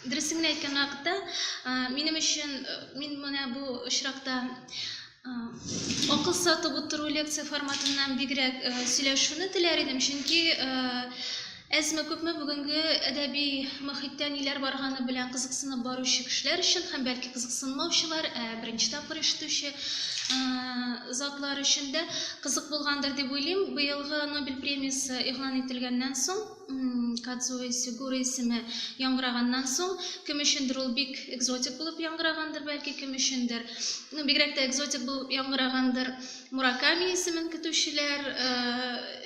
Дөресен әйткән вакытта, минем өчен мин менә бу очракта акыл сатып утыру лекция форматыннан бигрәк сөйләшүне теләр идем, чөнки Әзме күпме бүгенге әдәби мөхиттә ниләр барганы белән кызыксынып баручы кешеләр өчен һәм бәлки кызыксынмаучылар, ә беренче тапкыр ишетүче затлар өчен дә Кызык булгандыр дип уйлыйм, быелгы Нобель премиясе игълан ителгәннән соң, Кадзуо Исигура исеме яңгыраганнан соң, кем өчендер ул бик экзотик булып яңгырагандыр, бәлки, кем өчендер. Ну, бигрәк тә экзотик булып яңгырагандыр Мураками исемен көтүчеләр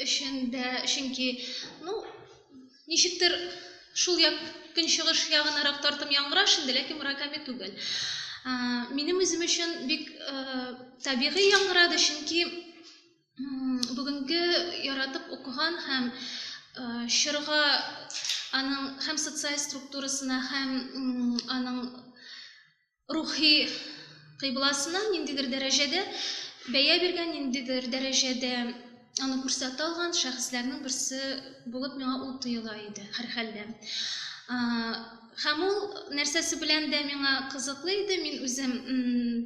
өчен дә, чөнки, ну, Ничектер, шул як, көнчыгыш ягынарак тартым яңгыраш инде, ләкин Мураками түгел. Минем үзем өчен бик табигый яңгырады, чөнки бүгенге яратып укыган һәм чорга аның һәм социаль структурасына, һәм аның рухи кыйбласына ниндидер дәрәҗәдә бәя биргән, ниндидер дәрәҗәдә аны күрсәтә алган шәхесләрнең берсе булып миңа ул тоела иде һәрхәлдә. Һәм ул нәрсәсе белән дә миңа кызыклы иде, мин үзем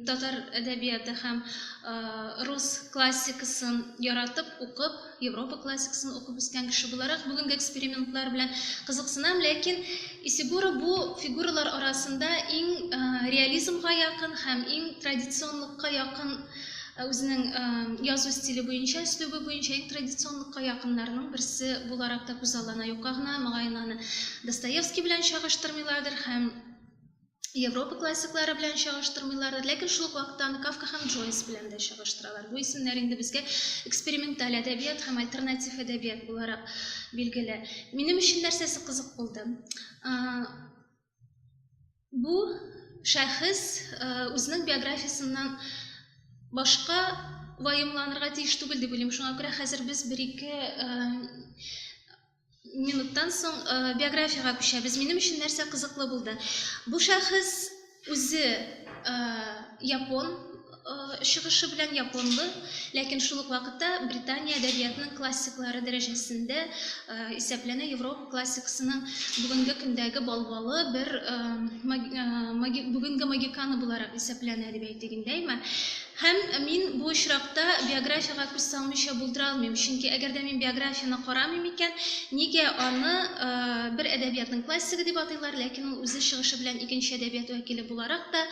татар әдәбияты һәм рус классикасын яратып укып, Европа классикасын укып үскән кеше буларак, бүгенге экспериментлар белән кызыксынам, ләкин Исигуро бу фигуралар арасында иң реализмга якын һәм иң традиционлыкка якын үзенең язу стиле буенча, өслүбе буенча иң традиционлыкка якыннарның берсе буларак та күзаллана. Юкка гына, мөгаен, аны Достоевский белән чагыштырмыйлардыр һәм Европа классиклары белән чагыштырмыйлар, ләкин шул ук вакытта аны Кафка һәм Джойс белән дә чагыштыралар. Бу исемнәр инде безгә эксперименталь әдәбият һәм альтернатив әдәбият буларак билгеле. Минем өчен нәрсәсе кызык булды? Бу шәхес үзенең биографиясеннән башка ваемланырга тиеш түгел дип уйлыйм. Шуңа күрә хәзер без бер-ике минуттан соң биографиягә күчәбез. Минем өчен нәрсә кызыклы булды? Бу шәхес үзе япон чыгышы белән японлы, ләкин шул ук вакытта Британия әдәбиятының классиклары дәрәҗәсендә исәпләнә Европа классикасының бүгенге көндәге балбалы бер бүгенге магиканы буларак исәпләнә дип әйтик инде, әйме? Һәм мин бу очракта биографиягә күз салмыйча булдыра алмыйм, чөнки әгәр дә мин биографияне карамыйм икән, нигә аны бер әдәбиятның классигы дип атыйлар, ләкин ул үзе чыгышы белән икенче әдәбият вәкиле буларак та,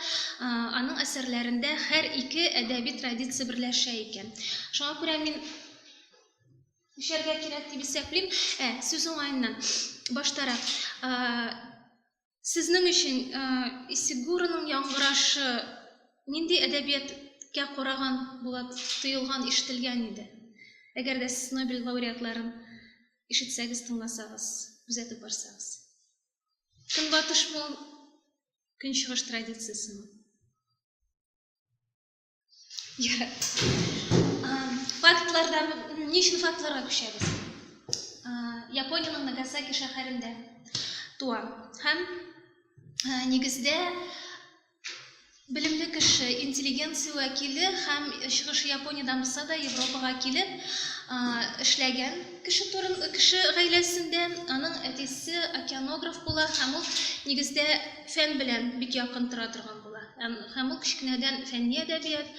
аның әсәрләрендә һәр ике әдәби традиция берләшә икән. Шуңа күрә мин үчәргә кирәк дип исәплим. Ә, сүз уңаеннан, баштарак, Сезнең өчен Исигуроның яңгырашы нинди әдәбияткә караган булып тоелган, ишетелгән иде? Әгәр дә сез Нобель лауреатларын ишетсәгез, тыңласагыз, күзәтеп барсагыз. Көнбатышмы ул, көнчыгыш традициясеме? Фактларда ни өчен фактларга күчәбез? Япониянең Нагасаки шәһәрендә туа. Һәм нигездә белемле кеше, интеллигенция вәкиле һәм чыгышы Япониядән булса да Европага килеп эшләгән кеше турын кеше гаиләсендә аның әтисе океанограф була һәм ул нигездә фән белән бик якын тора торган. була. Һәм ул кечкенәдән фәнни әдәбият,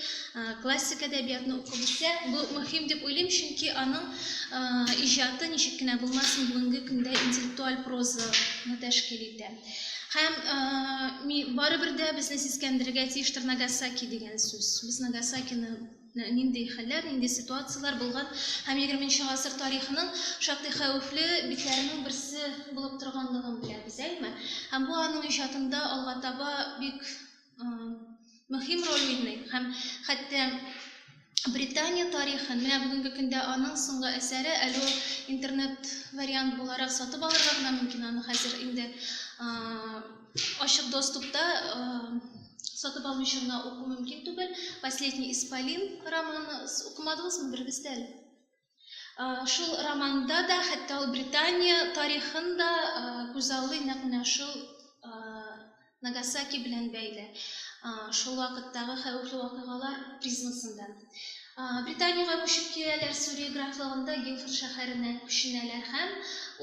классик әдәбиятны укып үсә. Бу мөһим дип уйлыйм, чөнки аның иҗаты ничек кенә булмасын, бүгенге көндә интеллектуаль прозаны тәшкил итә. Һәм барыбер дә безне сискәндерергә тиештер Нагасаки дигән сүз. Без Нагасакины нинди хәлләр, нинди ситуацияләр булган һәм 20 нче гасыр тарихының шактый хәвефле битләренең берсе булып торганлыгын беләбез, әйме? Һәм бу аның иҗатында алга таба бик мөһим роль уйный һәм хәтта Британия тарихын, менә бүгенге көндә аның соңгы әсәре, әле ул интернет вариант буларак сатып алырга гына мөмкин аны хәзер инде Ачык доступта сатып алмыйча гына уку мөмкин түгел. Последний исполин романы укымадыгызмы берегез дә әле? Шул романда да, хәтта ул Британия тарихын да күзаллый нәкъ менә шул Нагасаки белән бәйле. Шул вакыттагы хәвефле вакыйгалар призмасында. Британиягә күчеп киләләр, Сүрия графлыгында Гилфорд шәһәренә күченәләр һәм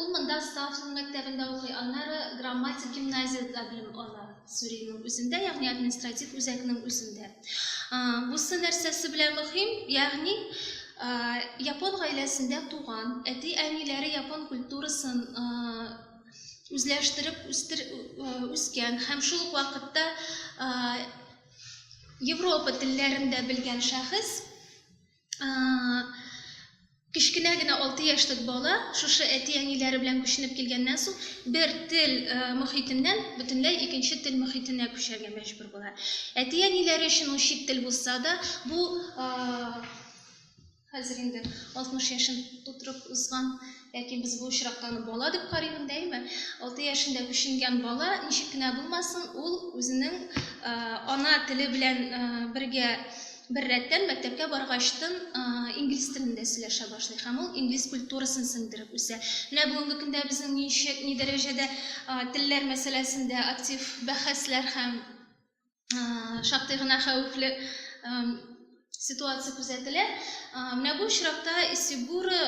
ул монда Стафтон мәктәбендә укый, аннары Грамматик гимназиядә белем ала, Сүриянең үзендә, ягъни административ үзәкнең үзендә. Бусы нәрсәсе белән мөһим, ягъни япон гаиләсендә туган, әти-әниләре япон культурасын үзләштереп үскән һәм шул ук вакытта Европа телләрен дә белгән шәхес, кечкенә генә 6 яшьлек бала шушы әти-әниләре белән күченеп килгәннән соң бер тел мөхитеннән бөтенләй икенче тел мөхитенә күчәргә мәҗбүр була. Әти-әниләре өчен ул чит тел булса да, бу Хәзер инде 60 яшен тутырып узган, ләкин без бу очракта аны бала дип карыйбыз, дәйме? 6 яшендә күченгән бала, ничек кенә булмасын, ул үзенең э, ана теле белән э, бергә бер рәттән мәктәпкә баргачтын э, инглиз телендә сөйләшә башлый һәм ул инглиз культурасын сеңдереп үсә. Менә бүгенге көндә безнең ничек, ни дәрәҗәдә э, телләр мәсьәләсендә актив бәхәсләр һәм шактый гына хәвефле ситуация күзәтелә. Менә бу очракта Исигура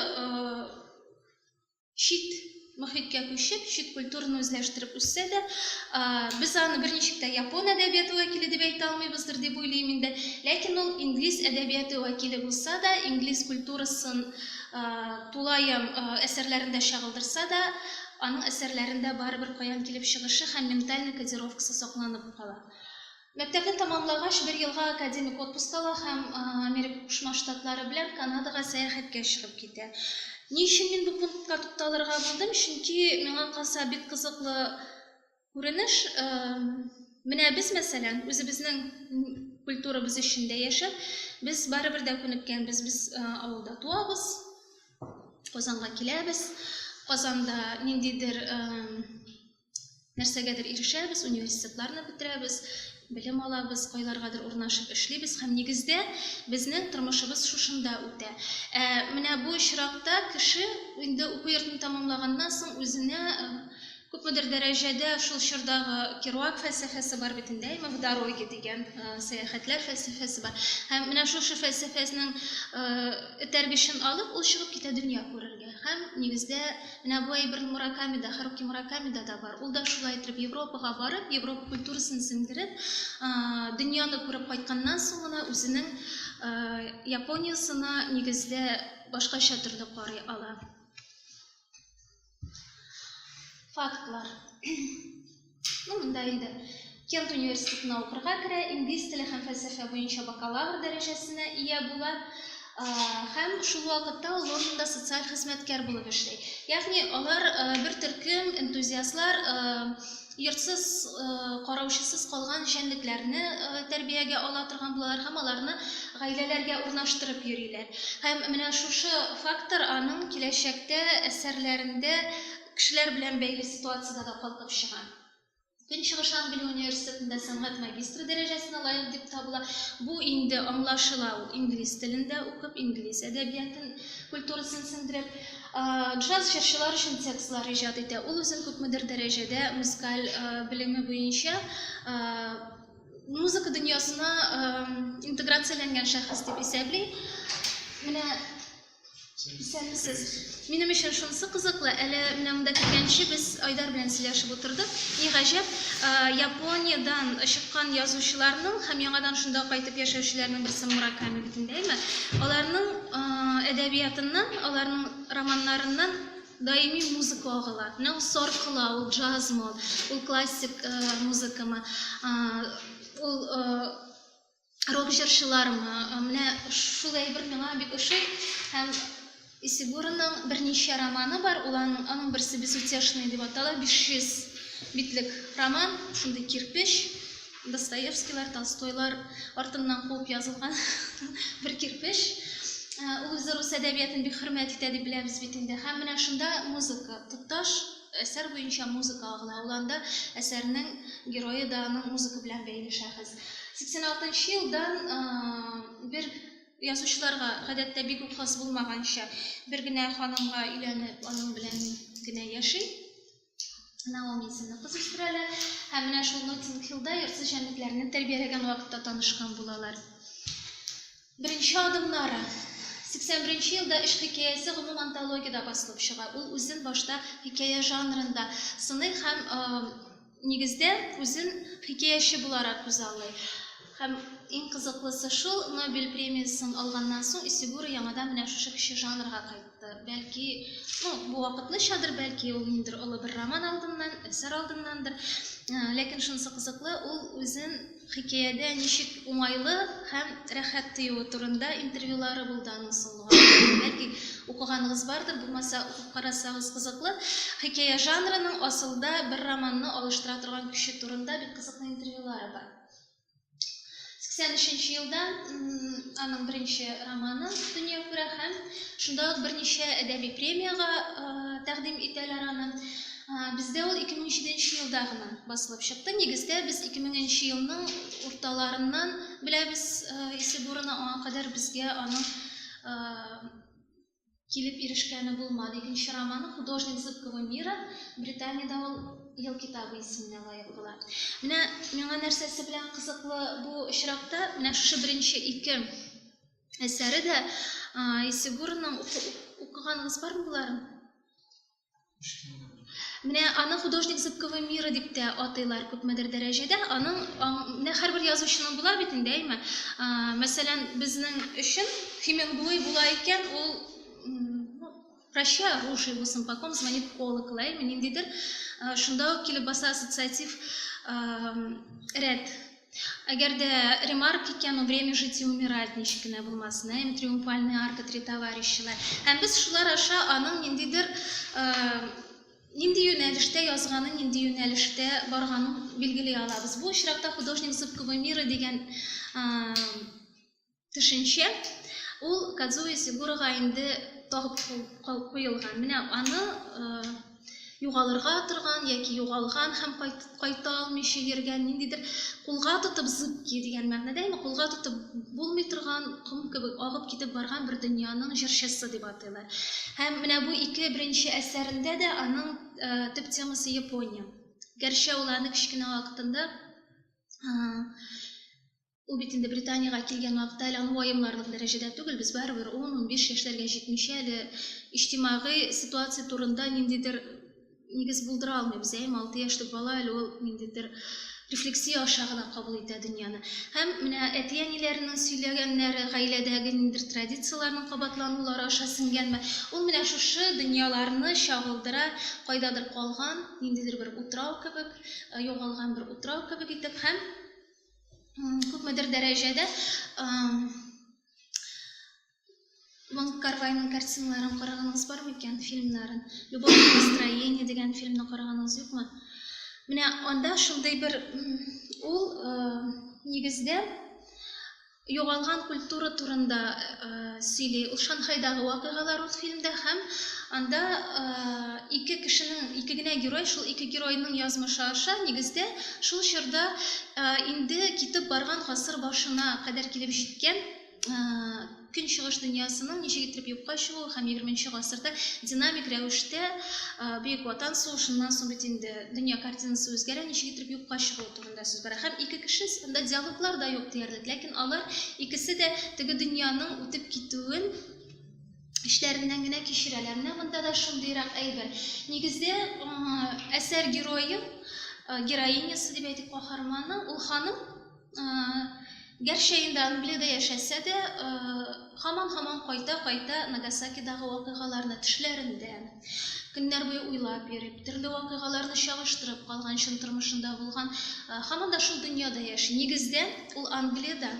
чит мөхиткә күчеп, чит культураны үзләштереп үссә дә, без аны берничек тә япон әдәбияты вәкиле дип әйтә алмыйбыздыр дип уйлыйм инде. Ләкин ул инглиз әдәбияты вәкиле булса да, инглиз культурасын тулаем әсәрләрендә чагылдырса да, Аның әсәрләрендә барыбер каян килеп чыгышы һәм ментальный кодировкасы сакланып кала. Мәктәпне тәмамлагач, бер елга академик отпуск ала һәм Америка Кушма Штатлары белән Канадага сәяхәткә чыгып китә. Ни өчен мин бу пунктка тукталырга булдым? Чөнки миңа калса бик кызыклы Күренеш, менә без, мәсәлән, үзебезнең культурабыз эчендә яшәп, без барыбер дә күнеккәнбез. Без авылда туабыз, Казанга киләбез. Казанда ниндидер нәрсәгәдер ирешәбез, университетларны бетерәбез, белем алабыз, кайларгадыр урнашып эшлибез һәм нигездә безнең тормышыбыз шушында үтә. Ә менә бу очракта кеше инде уку йортын тәмамлаганнан соң үзенә Күпмедер дәрәҗәдә шул чордагы Керуак фәлсәфәсе бар бит инде, әйме, в дороге дигән сәяхәтләр фәлсәфәсе бар. Һәм менә шушы фәлсәфәснең этәргечен алып, ул чыгып китә дөнья күрергә. Һәм, нигездә, менә бу әйбер Муракамида, Харуки Муракамида да бар. Ул да шулай иттереп Европага барып, Европа культурасын сеңдереп, дөньяны күреп кайтканнан соң гына үзенең Япониясына, нигездә, башкача төрле карый ала. Фактлар. Ну, монда инде Кент университетына укырга керә, инглиз теле һәм фәлсәфә буенча бакалавр дәрәҗәсенә ия була һәм шул вакытта ул Лондонда социаль хезмәткәр булып эшли. Ягъни алар бер төркем энтузиастлар йортсыз, караучысыз калган җәнлекләрне тәрбиягә ала торган булалар һәм аларны гаиләләргә урнаштырып йөриләр. Һәм менә шушы фактор аның киләчәктә әсәрләрендә кешеләр белән бәйле ситуациядә дә калкып чыга. Көнчыгыш Англия университетында сәнгать магистры дәрәҗәсенә лаек дип табыла. Бу инде аңлашыла, ул инглиз телендә укып, инглиз әдәбиятын, культурасын сеңдереп. Джаз җырчылар өчен текстлар иҗат итә. Ул үзен күпмедер дәрәҗәдә музыкаль белеме буенча музыка дөньясына интеграцияләнгән шәхес дип исәпли. Менә исәнмесез. Минем өчен шунысы кызыклы, әле менә монда килгәнче без Айдар белән сөйләшеп утырдык. Ни гаҗәп, Япониядән чыккан язучыларның һәм яңадан шунда кайтып яшәүчеләрнең берсе Мураками бит инде, әйме? Аларның әдәбиятыннан, аларның романнарыннан даими музыка агыла. Менә ул сар кыла, ул джазмы, ул, ул классик э, музыкамы, э, ул э, рок җырчылармы. Э, менә шул әйбер миңа бик ошый һәм Исигураның берничә романы бар, ул аның, аның берсе Безутешный дип атала, 500 битлек роман, шундый кирпеч. Достоевскийлар, Толстойлар артыннан куып язылган бер кирпеч. Э, ул үзе рус әдәбиятын бик хөрмәт итә дип беләбез бит инде. Һәм менә шунда музыка, тоташ әсәр буенча музыка агыла. Ул анда әсәрнең герое да аның музыка белән бәйле шәхес. 86 елдан э, бер язучыларга гадәттә бик үк хас булмаганча бер генә ханымга өйләнеп аның белән генә яши Наоми исемле кыз үстерәләр. Һәм менә шул Ноттинг-Хиллда йортсыз җәнлекләрне тәрбияләгән вакытта танышкан булалар. Беренче адымнары. 81 елда эш хикәясе гомум антологиядә басылып чыга. Ул үзен башта хикәя жанрында сыный һәм э, нигездә үзен хикәяче буларак күзаллый. Һәм иң кызыклысы шул, Нобель премиясын алганнан соң Исигура яңадан менә шушы кече жанрга кайтты. Бәлки, ну, бу вакытлычадыр, бәлки ул ниндер олы бер роман алдыннан, әсәр алдыннандыр. Э, ләкин шунысы кызыклы, ул үзен хикәядә ничек уңайлы һәм рәхәт тоюы турында интервьюлары булды аның соңгы. Бәлки укыганыгыз бардыр, булмаса укып карасагыз кызыклы. Хикәя жанрының асылда бер романны алыштыра торган көче турында бик кызыклы интервьюлары бар. 83 елда аның беренче романы дөнья күрә һәм шунда ук берничә әдәби премиягә тәкъдим итәләр аны. Бездә ул 2007 елда гына басылып чыкты. Нигездә без 2000 елның урталарыннан беләбез Исебурны, аңа кадәр безгә аның килеп ирешкәне булмады. Икенче романы Художник зыбкого мира, Британиядә ул ел китабы исеменә лаек була. Менә миңа нәрсәсе белән кызыклы бу очракта, менә шушы беренче ике әсәре дә Исегурның укыганыгыз бармы боларын? Менә аны художник зыбковый мира дип тә атыйлар күпмедер дәрәҗәдә. Аның менә һәрбер язучының була бит инде, әйме? Мәсәлән, безнең өчен Хемингуэй була икән, ул ну, прощай оружие булсын, по ком звонит колокол, әйме? Ниндидер шунда ук килеп баса ассоциатив рәд Әгәр дә ремарк икән, у время жить и умирать ничек кенә булмасын, ә, им триумфальные арка три товарищина. Һәм без шулар аша аның ниндидер, нинди юнәлештә язганын, нинди юнәлештә барганын билгели алабыз. Бу очракта художник зыбковой мира дигән төшенчә, ул Кадзуи Сигурага инде тагып куелган. Менә аны югалырга торган яки югалган һәм кайта алмыйча йөргән ниндидер кулга тотып зыбки дигән мәгънәдә яме кулга тотып булмый торган ком кебек агып китеп барган бер дөньяның җырчысы дип атыйлар. Һәм менә бу ике беренче әсәрендә дә аның э, төп темасы Япония. Гәрчә ул аны кечкенә вакытында э, Ул бит инде Британиягә килгән вакытта әле аны ваемларлык дәрәҗәдә түгел, без барыбер ун-унбиш яшьләргә җитмичә әле иҗтимагый ситуация турында ниндидер нигез булдыра алмыйбыз, әйеме? Алты яшьлек бала әле ул ниндидер рефлексия аша гына кабул итә дөньяны. Һәм менә әти-әниләренең сөйләгәннәре, гаиләдәге ниндидер традицияләрнең кабатланулары аша сеңгәнме, ул менә шушы дөньяларны чагылдыра, кайдадыр калган, ниндидер бер утрау кебек, югалган бер утрау кебек итеп һәм, күпмедер дәрәҗәдә Ван Карвайның картиналарын караганыгыз бар микән, фильмнарын? Любовь и настроение дигән фильмны караганыгыз юкмы? Менә анда шундый бер ул э, нигездә Югалган культура турында сөйли. Ул Шанхайдагы вакыйгалар ул фильмда һәм анда ике кешенең, ике генә герой, шул ике геройның язмышы аша нигездә шул чорда инде китеп барган гасыр башына кадәр килеп җиткән Көнчыгыш дөньясының ничек иттереп юкка чыгуы һәм егерменче гасырда динамик рәвештә Бөек Ватан сугышыннан соң бит инде дөнья картинасы үзгәрә, ничек иттереп юкка чыгуы турында. турында сүз бара. Һәм ике кеше анда диалоглар да юк диярлек, ләкин алар икесе дә теге дөньяның үтеп китүен эчләреннән генә кичерәләр. Менә монда да шундыйрак әйбер. Нигездә әсәр герое, героинясы дип әйтик, каһарманы, ул ханым Гәрчә инде Англиядә яшәсә дә, һаман-һаман кайта-кайта Нагасакидагы вакыйгаларны төшләрендә, көннәр буе уйлап йөреп, төрле вакыйгаларны чагыштырып калган чын тормышында булган, һаман да шул дөньяда яши. Нигездә, ул Англиядә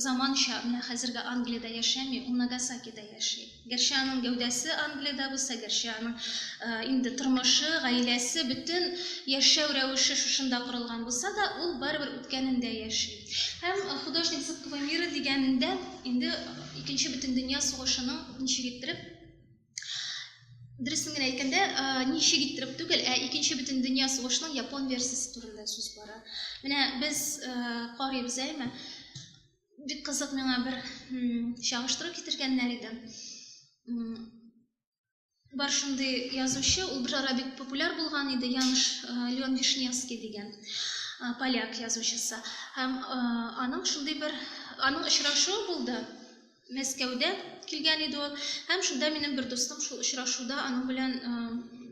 заманча, менә хәзерге Англиядә яшәми, ул Нагасакида яши. Гәрчә аның гәүдәсе Англиядә булса, гәрчә аның инде тормышы, гаиләсе, бөтен яшәү рәвеше шушында корылган булса да, ул барыбер үткәнендә яши. Һәм художник зыбкого мира дигәнендә инде Икенче бөтендөнья сугышының ничек иттереп Дөресен генә әйткәндә, ничек иттереп түгел, ә икенче бөтен дөнья сугышының япон версиясе турында сүз бара. Менә без карыйбыз әйме? Бик кызык миңа бер чагыштыру китергәннәр иде. Бар шундый язучы, ул бер ара бик популяр булган иде, Яныш Леон Вишневский дигән поляк язучысы. Һәм аның шундый бер аның очрашуы булды. Мәскәүдә килгән иде ул һәм шунда минем бер дустым шул очрашуда аның белән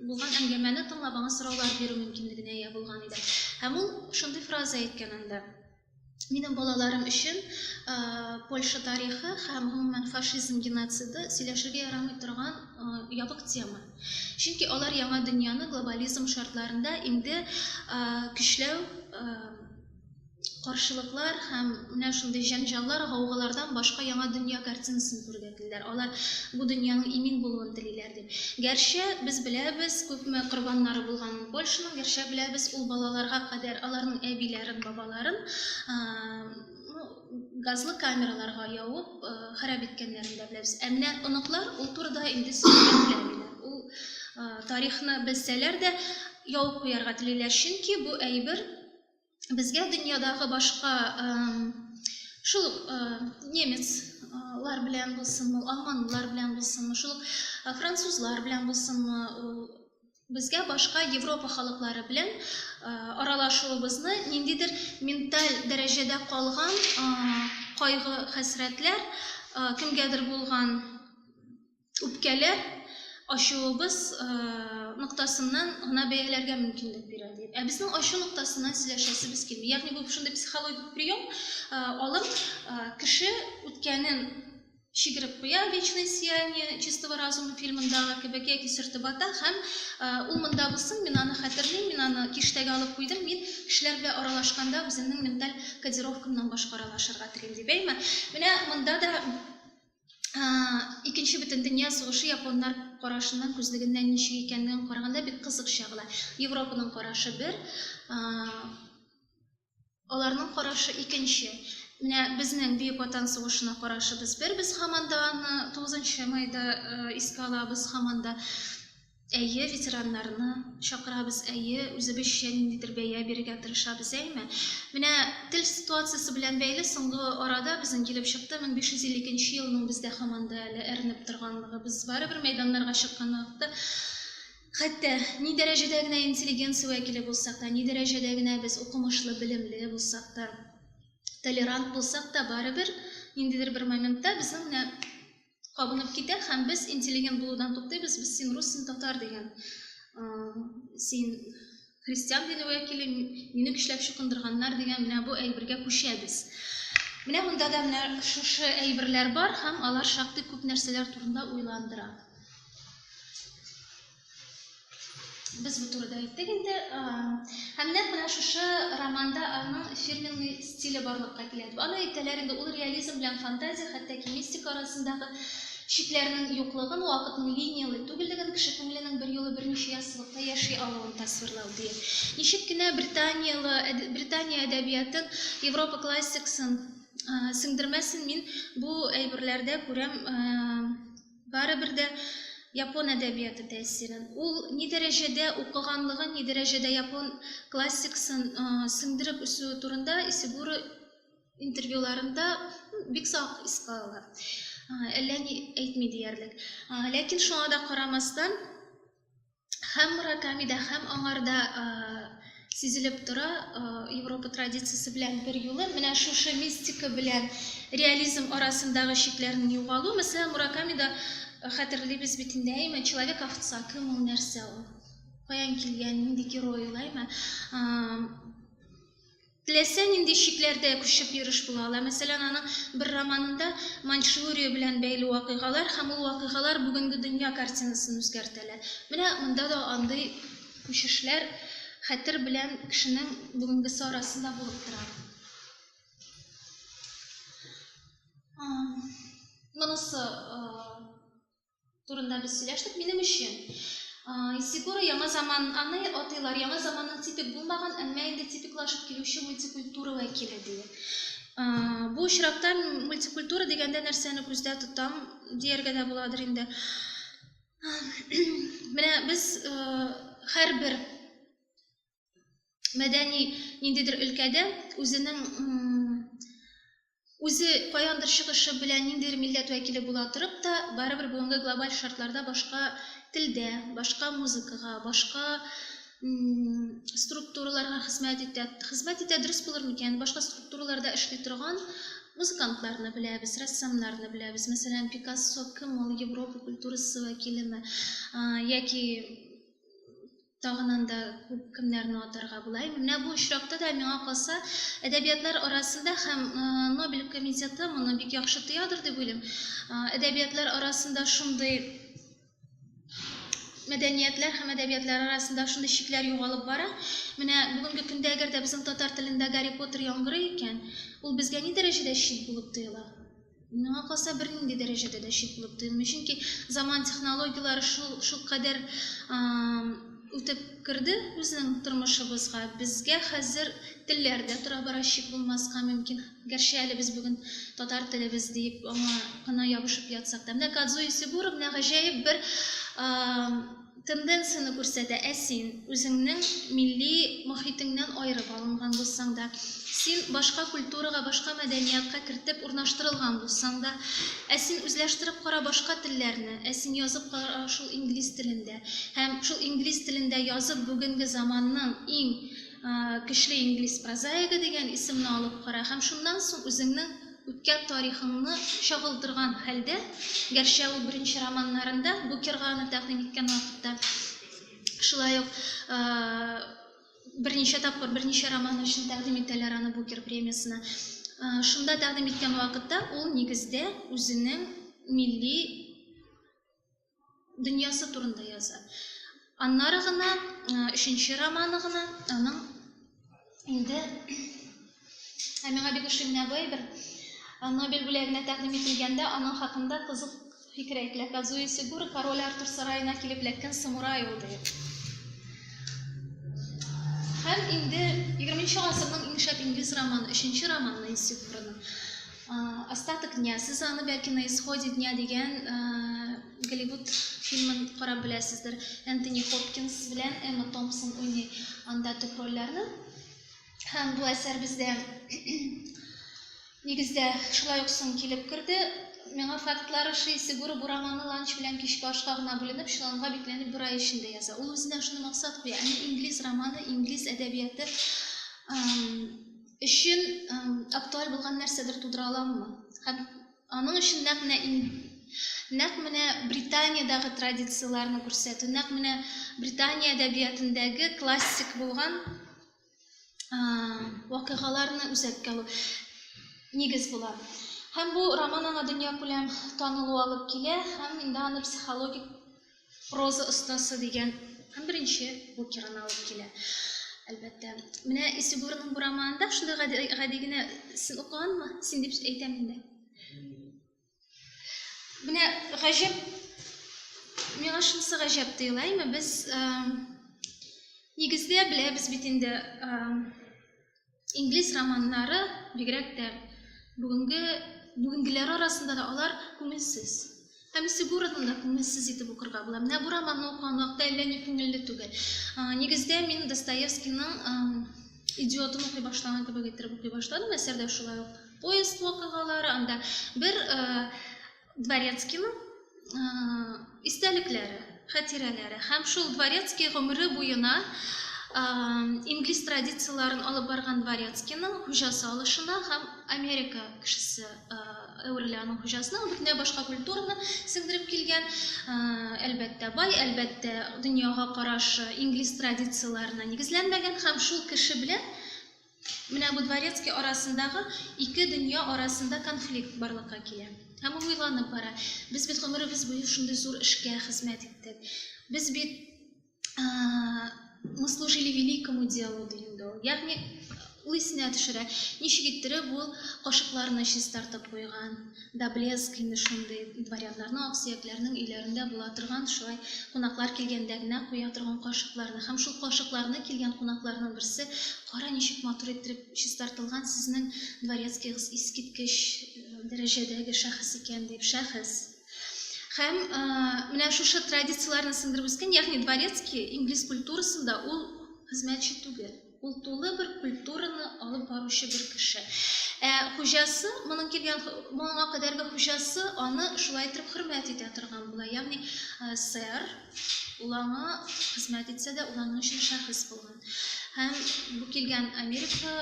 булган әңгәмәне тыңлап аңа сораулар бирү мөмкинлегенә ия булган иде. Һәм ул шундый фраза әйткән анда. Минем балаларым өчен Польша тарихы һәм гомумән фашизм геноциды сөйләшергә ярамый торган ябык тема. Чөнки алар яңа дөньяны глобализм шартларында инде көчләү каршылыклар һәм менә шундый җәнҗаллар, гаугалардан башка яңа дөнья картинасын күрергә телиләр. Алар бу дөньяның имин булуын телиләр дип. Гәрчә без беләбез, күпме корбаннары булганын Польшаның, гәрчә беләбез, ул балаларга кадәр аларның әбиләрен, бабаларын ну, газлы камераларга явып харап иткәннәрен дә беләбез. Ә менә оныклар ул турыда инде сөйләмиләр. Ул тарихны белсәләр дә явып куярга телиләр, чөнки бу әйбер безгә дөньядагы башка шул ук немецлар белән булсынмы, алманлылар белән булсынмы, шул ук французлар белән булсынмы, безгә башка Европа халыклары белән аралашуыбызны ниндидер менталь дәрәҗәдә калган кайгы, хәсрәтләр, кемгәдер булган үпкәле ачуыбыз ноктасыннан гына бәяләргә мөмкинлек бирә ди. Ә безнең ачу ноктасыннан сөйләшәсебез килми. Ягъни бу шундый психологик прием, алып кеше үткәнен чигереп куя «Вечное сияние чистого разума» фильмындагы кебек яки сөртеп ата һәм ул монда булсын, мин аны хәтерлим, мин аны киштәгә алып куйдым, мин кешеләр белән аралашканда үземнең менталь кодировкамнан башка аралашырга телим, ди. Бәйме? Менә монда да икенче бөтен дөнья сугышы японнар карашыннан күзлегеннән ничек икәнлеген караганда бик кызык чагыла. Европаның карашы бер, аларның карашы икенче. Менә безнең Бөек Ватан сугышына карашыбыз бер, без һаман да аны 9 майда искә алабыз һаман да. Әйе, ветераннарны чакырабыз, әйе, үзебезчә ниндидер бәя бирергә тырышабыз, әйме? Менә тел ситуациясе белән бәйле соңгы арада безнең килеп чыкты, 1550 икенче елның бездә һаман да әле әрнеп торганлыгы. Без барыбер мәйданнарга чыккан вакытта, хәтта ни дәрәҗәдә генә интеллигенция вәкиле булсак та, ни дәрәҗәдә генә без укымышлы, белемле булсак та, толерант булсак та, барыбер ниндидер бер моментта безнең менә кабынып китә һәм без интеллигент булудан туктыйбыз, без син рус, син татар дигән, син христиан дине вәкиле, мине көчләп чукындырганнар дигән менә бу әйбергә күчәбез. Менә монда да менә шушы әйберләр бар һәм алар шактый күп нәрсәләр турында уйландыра. Без бу турыда әйттек инде. Һәм нәкъ менә шушы романда аның фирменный стиле барлыкка килә дип. Аны әйтәләр инде, ул реализм белән фантазия, хәтта ки мистика арасындагы чикләрнең юклыгын, вакытның линияле түгеллеген, кеше күңеленең бер юлы берничә яссылыкта яши алуын тасвирлау ди. Ничек кенә Британияле, Британия әдәбиятын, Европа классиксын сеңдермәсен, мин бу әйберләрдә күрәм Барыбер дә япон әдәбияты тәэсирен, ул ни дәрәҗәдә укыганлыгын, ни дәрәҗәдә япон классикасын сеңдереп үсүе турында Исигуро интервьюларында бик сак искә ала. Әллә ни әйтми диярлек. Ләкин шуңа да карамастан, һәм Муракамида, һәм аңарда э, сизелеп тора э, Европа традициясе белән бер юлы менә шушы мистика белән реализм арасындагы чикләрнең югалу. Мәсәлән, Муракамида э, хәтерлибез бит инде, әйме, человек овца, кем ул, нәрсә ул? Каян килгән, нинди герой ул, әйме? Теләсә нинди чикләрдә күчеп йөреш була ала. Мәсәлән, аның бер романында Маньчжурия белән бәйле вакыйгалар һәм ул вакыйгалар бүгенге дөнья картинасын үзгәртәләр. Менә монда да андый күчешләр хәтер белән кешенең бүгенгесе арасында булып тора. Монысы турында без сөйләштек. Минем өчен Исигура яңа заман аны атыйлар, яңа заманның типик булмаган, әмма инде типиклашып килүче мультикультура вәкиле диләр. Бу очракта мультикультура дигәндә нәрсәне күздә тотам, дияргә дә буладыр инде. Менә без һәрбер мәдәни ниндидер өлкәдә үзенең үзе каяндыр чыгышы белән ниндидер милләт вәкиле була торып та, барыбер бүгенге глобаль шартларда башка телдә, башка музыкага, башка структураларга хезмәт итә. Хезмәт итә дөрес булыр микән? Башка структураларда эшли торган музыкантларны беләбез, рәссамнарны беләбез. Мәсәлән, Пикассо кем ул? Европа культурасы вәкилеме? Яки Тагын анда күп кемнәрне атарга була. Менә бу очракта да миңа калса, әдәбиятлар арасында һәм Нобель комитеты моны бик яхшы тоядыр дип уйлыйм. Әдәбиятлар арасында шундый мәдәниятләр һәм әдәбиятлар арасында шундый чикләр югалып бара. Менә бүгенге көндә әгәр дә безнең татар телендә Гарри Поттер яңгырый икән, ул безгә ни дәрәҗәдә чит булып тоела? Миңа калса, бернинди дәрәҗәдә дә чит булып тоймый. Чөнки заман технологияләре шул шул кадәр үтеп керде безнең тормышыбызга. Безгә хәзер телләр дә тора бара чит булмаска мөмкин. Гәрчә әле без бүген татар телебез диеп аңа гына ябышып ятсак та. Менә Кадзуи Сибура менә гаҗәеп бер Тенденцияне күрсәтә. Ә син, үзеңнең милли мохитеңнән аерып алынган булсаң да, син башка культурага, башка мәдәниятка кертеп урнаштырылган булсаң да, ә син үзләштереп кара башка телләрне, ә син язып кара шул инглиз телендә һәм шул инглиз телендә язып бүгенге заманның иң көчле инглиз прозаигы дигән исемне алып кара һәм шуннан соң үзеңнең Үткән тарихыңны чагылдырган хәлдә, гәрчә ул беренче романнарында Букерганы тәкъдим иткән вакытта, шулай ук берничә тапкыр берничә роман өчен тәкъдим итәләр аны Букер премиясенә. Шунда тәкъдим иткән вакытта ул нигездә үзенең милли дөньясы турында яза. Аннары гына, өченче романы гына, аның инде ә миңа бик ошый менә бу әйбер. Нобель бүләгенә тәкъдим ителгәндә аның хакында кызык фикер әйтелә. Казуи Сигура король Артур сараена килеп эләккән самурай ул дип. Һәм инде 20 нче гасырның иң шәп инглиз романы, 3 нче романы Сигураның. Остаток дня, сез аны бәлки на исходе дня дигән Голливуд фильмын карап беләсездер. Энтони Хопкинс белән Эмма Томпсон уйный анда төп рольләрне. Һәм бу әсәр бездә нигездә шулай ук соң килеп керде. Миңа фактлар ошый, Сигура бу романны ланч белән кичке ашка гына бүленеп, чоланга бикләнеп бер ай эчендә яза. Ул үзенә шуны максат куя, әни инглиз романы, инглиз әдәбияты өчен актуаль булган нәрсәдер тудыра аламмы? Һәм аның өчен нәкъ менә нәкъ менә Британиядәге традицияләрне күрсәтү, нәкъ менә Британия әдәбиятендәге классик булган вакыйгаларны үзәккә алу нигез була. Һәм бу роман аңа дөньякүләм танылу алып килә һәм инде аны психологик Проза остасы дигән һәм беренче букерын алып килә. Әлбәттә. Менә Исегурның бу романында шундый гади, гади генә син укыганмы? Син дип әйтәм инде. Менә гаҗәп миңа шунысы гаҗәп тоела, әйме без нигездә беләбез бит инде Инглиз романнары, бигрәк тә бүгенге бүгенгеләре арасында да алар күңелсез. Һәм Сигурдны да күңелсез итеп укырга була. Менә бу романны укыган вакытта әллә ни күңелле түгел. Нигездә мин Достоевскийның идиотын укый башлаган кебек иттереп укый башладым. Әсәрдә шулай ук поезд вакыйгалары, анда бер Дворецкийның истәлекләре, хатирәләре һәм шул Дворецкий гомере буена инглиз традицияләрен алып барган Дворецкийның хуҗасы алышына һәм Америка кешесе әверелә аның хуҗасына. Ул бөтенләй башка культураны сеңдереп килгән, әлбәттә, бай, әлбәттә, дөньяга карашы инглиз традицияләренә нигезләнмәгән һәм шул кеше белән Менә бу дворецкий арасындагы ике дөнья арасында конфликт барлыкка килә. Һәм ул уйланып бара. Без бит гомеребез буе шундый зур эшкә хезмәт иттек. Без бит мы служили великому делу, ди инде ул. Ягъни ул исенә төшерә, ничек иттереп ул кашыкларны чистартып куйган, да блеск инде шундый дворяннарның аксөякләрнең өйләрендә була торган шулай кунаклар килгәндә генә куя торган кашыкларны һәм шул кашыкларны килгән кунакларның берсе кара ничек матур иттереп чистартылган сезнең дворецкийгыз искиткеч дәрәҗәдәге шәхес икән дип шәхес һәм менә шушы традицияләрне сеңдереп үскән ягъни дворецкий инглиз культурасында ул хезмәтче түгел Ул тулы бер культураны алып баручы бер кеше. Ә хуҗасы, моның килгән моңа кадәрге хуҗасы аны шулай итеп хөрмәт итә торган була. Ягъни сэр ул аңа хезмәт итсә дә, ул аның өчен шәхес булган. Һәм бу килгән Америка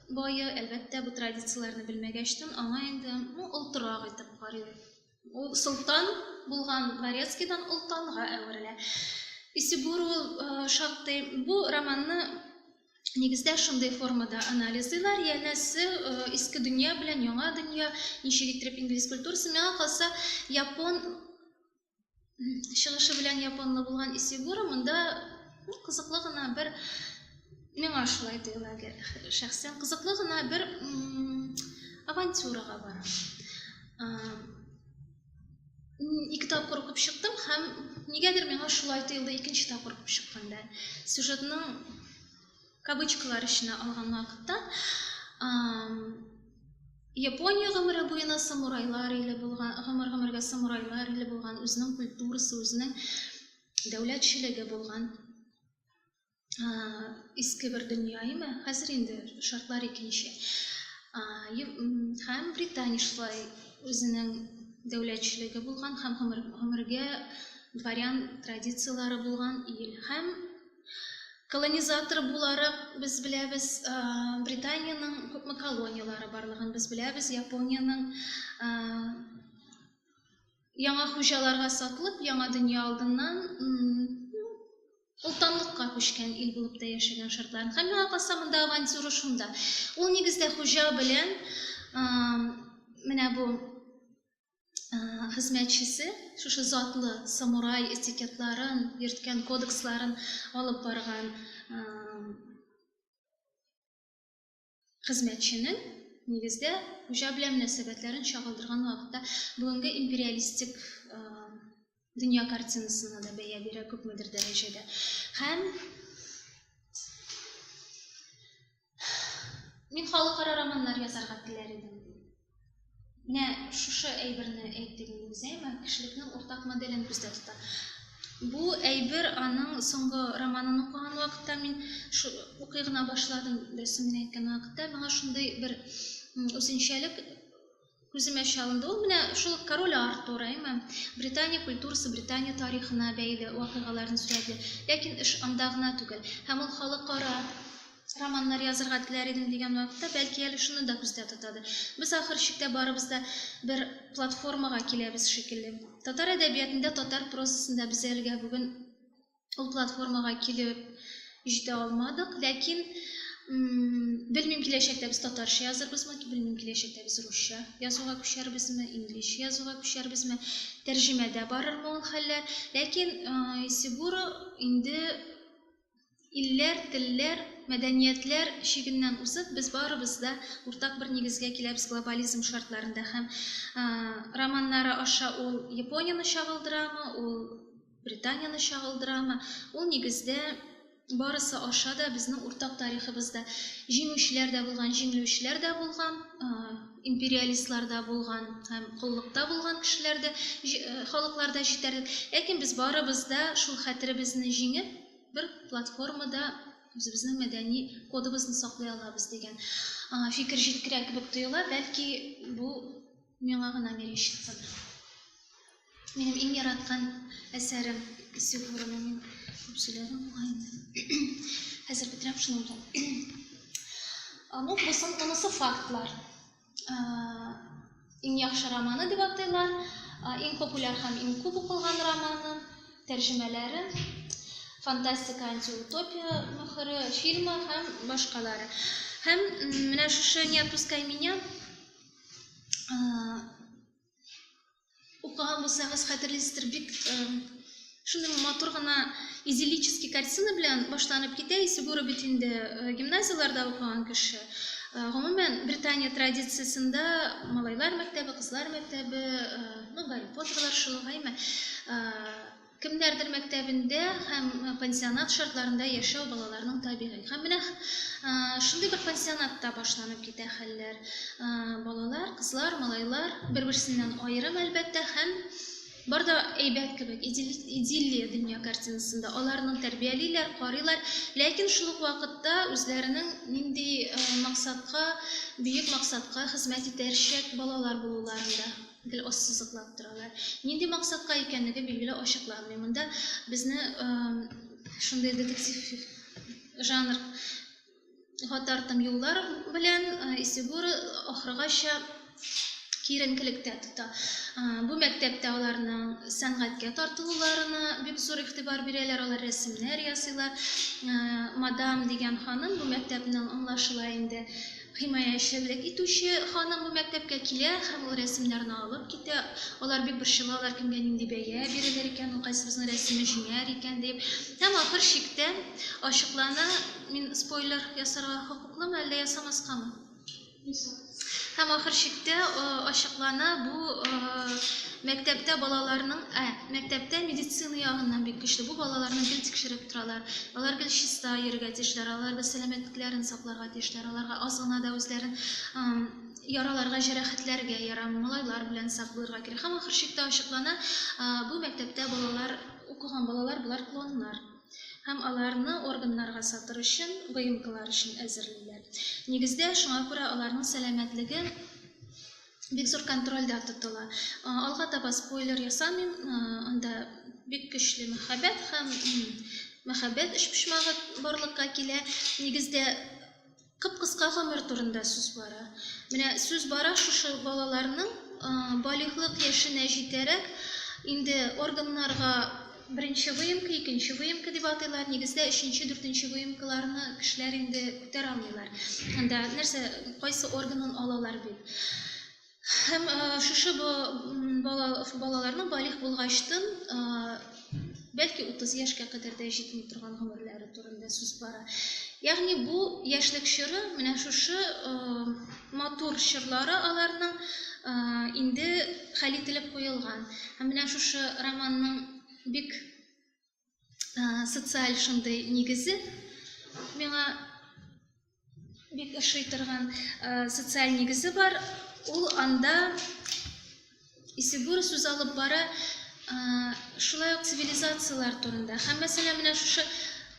бае, әлбәттә, бу традицияләрне белмәгәчтен, аңа инде, ну, олтырак итеп карый. Ул солтан булган Дворецкийдан олтанга әверелә. Исибур ул шактый. Бу романны Нигездә шундый формада анализлыйлар, янәсе иске дөнья белән яңа дөнья, ничек иттереп инглиз культурасын, миңа калса, япон чыгышы белән японлы булган Исигура монда ну, кызыклы гына бер миңа шулай тоела шәхсән кызыклы гына бер авантюрага бара. Ике тапкыр укып чыктым һәм нигәдер миңа шулай тоелды икенче тапкыр укып чыкканда. Сюжетның кавычкалар эченә алган вакытта Япония гомере буена самурайлар иле булган, гомер-гомергә самурайлар иле булган, үзенең культурасы, үзенең дәүләтчелеге булган иске бер дөнья име? Хәзер инде шартлар икенче. Һәм Британия шулай үзенең дәүләтчелеге булган һәм гомергә дворян традицияләре булган ил һәм Колонизатор буларак, без беләбез, Британиянең күпме колонияләре барлыгын без беләбез. Япониянең яңа хуҗаларга сатылып, яңа дөнья алдыннан Олтанлыкка күчкән ил булып та яшәгән шартларын. Һәм миңа калса монда авантюра шунда. Ул нигездә хуҗа белән менә бу хезмәтчесе шушы затлы самурай этикетларын йөрткән кодексларын алып барган хезмәтченең нигездә хуҗа белән мөнәсәбәтләрен чагылдырган вакытта бүгенге империалистик дөнья картинасына да бәя бирә күпмедер дәрәҗәдә. Һәм мин халыкара романнар язарга теләр идем. Менә шушы әйберне әйтте инде Зәйма, кешелекнең уртак моделен күздә тота. Бу әйбер аның соңгы романын укыган вакытта мин шу, укый гына башладым, дөресен генә әйткән вакытта миңа шундый бер үзенчәлек Күземә чалынды ул менә шул Король Артур, әйме? Британия культурасы, Британия тарихына бәйле вакыйгаларны сурәтли. Ләкин эш анда гына түгел. Һәм ул халыкара романнар язырга теләр идем дигән вакытта, бәлки әле шуны да күздә тотадыр. Без ахыр чиктә барыбыз да бер платформага киләбез шикелле. Татар әдәбиятында, татар прозасында без әлегә бүген ул платформага килеп җитә алмадык, ләкин белмим киләчәктә без татарча язырбызмы, белмим киләчәктә без русча язуга күчәрбезме, инглиш язуга күчәрбезме, тәрҗемәдә барырмы ул хәлләр. Ләкин Исигуро инде илләр, телләр, мәдәниятләр чигеннән узып, без барыбыз да уртак бер нигезгә киләбез глобализм шартларында һәм романнары аша ул Японияне чагылдырамы, ул Британияне чагылдырамы? Ул нигездә барысы аша да безнең уртак тарихыбызда җиңүчеләр дә булган, җиңелүчеләр дә булган, империалистлар да булган һәм коллыкта булган кешеләр дә, халыклар да җитәрлек. Ләкин без барыбыз да шул хәтеребезне җиңеп, бер платформада үзебезнең мәдәни кодыбызны саклый алабыз дигән фикер җиткерә кебек тоела. Бәлки бу Миңа гына мерещится да. Минем иң яраткан әсәрем Исе Буранын мин күп сөйләдем бугай инде. Хәзер бетерәм шуның белән. Ну, бусын тонысы фактлар. Иң яхшы романы дип атыйлар, иң популяр һәм иң күп укылган романы, тәрҗемәләре, фантастика, антиутопия мөхәре, фильмы һәм башкалары. Һәм менә шушы не отпускай меня Укыган булсагыз, хәтерлисездер, бик шундый матур гына идиллический картина белән башланып китә. Исегура бит инде гимназияләрдә укыган кеше. Гомумән, Британия традициясендә малайлар мәктәбе, кызлар мәктәбе, ну, Гарри Потерлар шул, гайме? Кемнәрдер мәктәбендә һәм пансионат шартларында яшәү балаларның табигый. Һәм менә шундый бер пансионатта башланып китә хәлләр. Балалар, кызлар, малайлар бер-берсеннән аерым, әлбәттә, һәм бар да әйбәт кебек, идиллия дөнья картинасында. Аларның тәрбиялиләр, карыйлар, ләкин шул ук вакытта үзләренең нинди максатка, бөек максатка хезмәт итәрчәк балалар булуларында. Гел ассызыклап торалар. Нинди максатка икәнлеге билгеле ачыкланмый. Монда безне шундый детектив жанр Гатартым юллар белән Исигура ахыргача киеренкелектә тота. Бу мәктәптә аларның сәнгатькә тартылуларына бик зур игътибар бирәләр, алар рәсемнәр ясыйлар. Мадам дигән ханым бу мәктәпнең аңлашыла инде Химаячелек итүче ханым бу мәктәпкә килә һәм ул рәсемнәрне алып китә. Алар бик борчылалар, кемгә нинди бәя бирелер икән, ул кайсыбызның рәсеме җиңәр икән дип. Һәм ахыр чиктә ачыклана, мин спойлер ясарга хокуклымы, әллә ясамаскамы? Һәм ахыр чиктә ачыклана, бу мәктәптә балаларның, ә, мәктәптә медицина ягыннан бик көчле. Бу балаларны гел тикшереп торалар. Алар гел чиста йөрергә тиешләр, аларда сәламәтлекләрен сакларга Яшьләр аларга аз гына да үзләрен яраларга, җәрәхәтләргә ярамый, малайлар белән сак булырга кирәк. Һәм ахыр чиктә ачыклана, бу мәктәптә балалар, укыган балалар болар клоннар һәм аларны органнарга сатыр өчен ВМКлар өчен әзерлиләр. Нигездә шуңа күрә аларның сәламәтлеге бик зур контрольдә тотыла. Алга таба спойлер ясамыйм, анда бик көчле мәхәббәт һәм мәхәббәт өчпочмагы барлыкка килә. Нигездә кып-кыска гомер турында сүз бара. Менә сүз бара шушы балаларның балигълык яшенә җитәрәк инде органнарга Беренче выемка, икенче выемка дип атыйлар. Нигездә өченче, дүртенче выемкаларны кешеләр инде күтәрә алмыйлар. Анда нәрсә, кайсы органын алалар бит. Һәм шушы балаларның балигъ булгачтын, бәлки 30 яшькә кадәр дә җитми торган гомерләре. турында сүз бара. Ягъни бу яшьлек чоры, менә шушы э, матур чорлары аларның э, инде хәл ителеп куелган. Һәм менә шушы романның бик э, социаль шундый нигезе миңа бик ошый торган социаль нигезе бар. Ул анда Исегур сүз алып бара шулай ук цивилизацияләр турында. Һәм мәсәлә менә шушы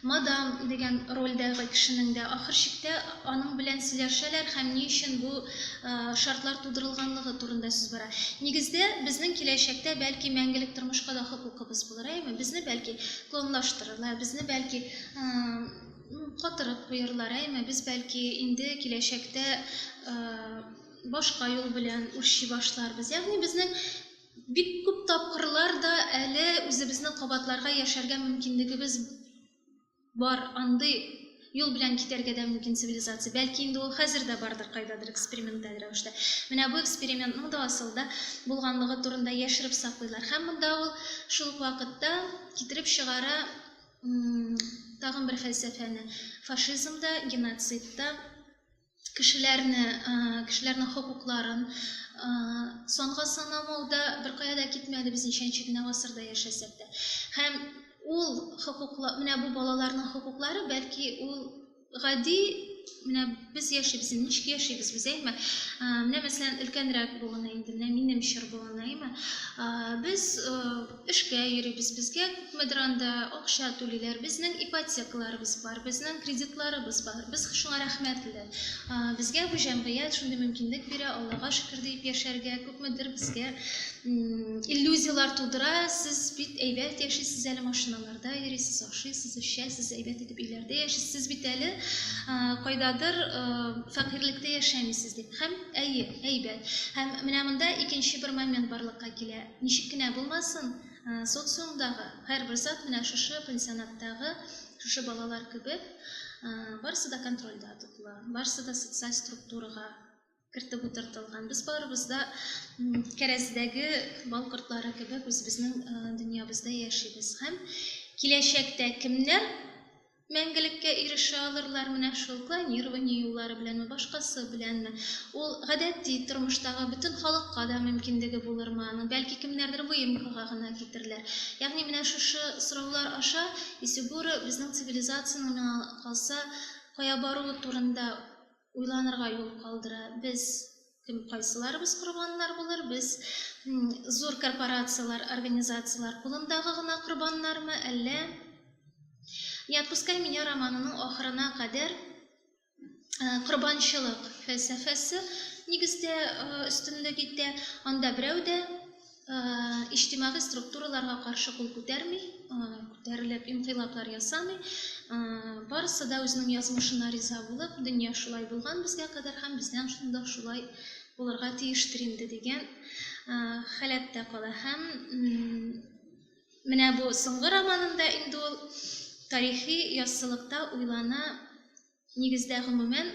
мадам дигән рольдәге кешенең дә ахыр чиктә аның белән сөйләшәләр һәм ни өчен бу шартлар тудырылганлыгы турында сүз бара. Нигездә безнең киләчәктә бәлки мәңгелек тормышка да хокукыбыз булыр, әйеме? Безне бәлки клонлаштырырлар, безне бәлки Котырып куярлар, әйме, без бәлки инде киләчәктә башка юл белән үрчи башларбыз. Ягъни безнең бик күп тапкырлар да әле үзебезне кабатларга яшәргә мөмкинлегебез бар. Андый юл белән китәргә дә мөмкин цивилизация. Бәлки инде ул хәзер дә бардыр кайдадыр эксперименталь рәвештә. Менә бу экспериментның да асылда булганлыгы турында яшереп саклыйлар. Һәм монда ул шул ук вакытта китереп чыгара тагын бер фәлсәфәне, фашизм да, геноцид та, кешеләрне, кешеләрнең хокукларын санга санамау да беркая да китмәде без ничәнче генә гасырда яшәсәк тә. Һәм ул хокуклар, менә бу балаларның хокуклары, бәлки ул Гади менә без яшибез, ничек яшибез без, әйме? Менә мәсәлән, өлкәнрәк буын инде, менә минем чор буын, әйме? Без эшкә йөрибез, безгә күпмедер анда акча түлиләр, безнең ипотекаларыбыз бар, безнең кредитларыбыз бар, без шуңа рәхмәтле. Безгә бу җәмгыять шундый мөмкинлек бирә, Аллага шөкер диеп яшәргә, күпмедер безгә иллюзияләр тудыра, сез бит әйбәт яшисез әле машиналар. Кайда йөрисез, ашыйсыз, эчәсез, әйбәт итеп өйләрдә яшисез, сез бит әле кайдадыр фәкыйрьлектә яшәмисез дип. Һәм әйе, әйбәт. Һәм менә монда икенче бер момент барлыкка килә. Ничек кенә булмасын, социумдагы һәрбер зат менә шушы пансионаттагы шушы балалар кебек, барысы да контрольдә тотыла, барысы да социаль структурага кертеп утыртылган. Без барыбыз да кәрәздәге бал кортлары кебек үзебезнең дөньябызда яшибез һәм киләчәктә кемнәр мәңгелеккә ирешә алырлар менә шул клонирование юллары беләнме башкасы беләнме ул гадәти тормыштагы бөтен халыкка да мөмкинлеге булырмы аның бәлки кемнәрдер выемкага гына китерләр ягъни менә шушы сораулар аша исегура безнең цивилизацияның миңа калса кая баруы турында Уйланырга юл калдыра, без кем, кайсыларыбыз корбаннар булыр, без зур корпорацияләр, организацияләр кулындагы гына корбаннармы, әллә Не отпускай меня романының ахырына кадәр корбанчылык фәлсәфәсе нигездә өстенлек итә, анда берәү дә иҗтимагый структураларга каршы кул күтәрми, күтәрелеп инкыйлаблар ясамый. Барысы да үзенең язмышына риза булып, дөнья шулай булган безгә кадәр һәм бездән шунда шулай булырга тиештер инде дигән халәттә кала. Һәм менә бу соңгы романында инде ул тарихи яссылыкта уйлана, нигездә гомумән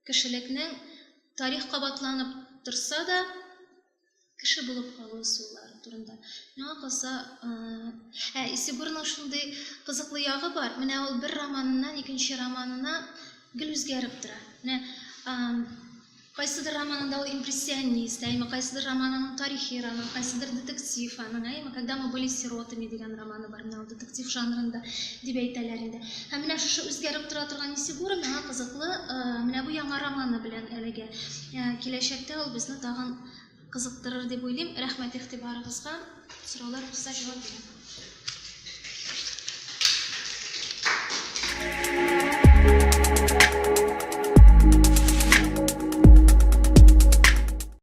кешелекнең тарих кабатланып торса да, Кеше булып калу ысуллары турында. Миңа калса, ә Исегурның шундый кызыклы ягы бар. Менә ул бер романыннан икенче романына гел үзгәреп тора. Менә кайсыдыр романында ул импрессионист, әйме кайсыдыр романының тарихи роман, кайсыдыр детектив аның, әйме когда мы были сиротами дигән романы бар, менә ул детектив жанрында дип әйтәләр инде. Һәм менә шушы үзгәреп тора торган Исегур миңа кызыклы, менә бу яңа романы белән әлегә. Киләчәктә ул безне тагын кызыктырыр дип уйлыйм. Рәхмәт игътибарыгызга. Сорауларыгызга җавап бирәм.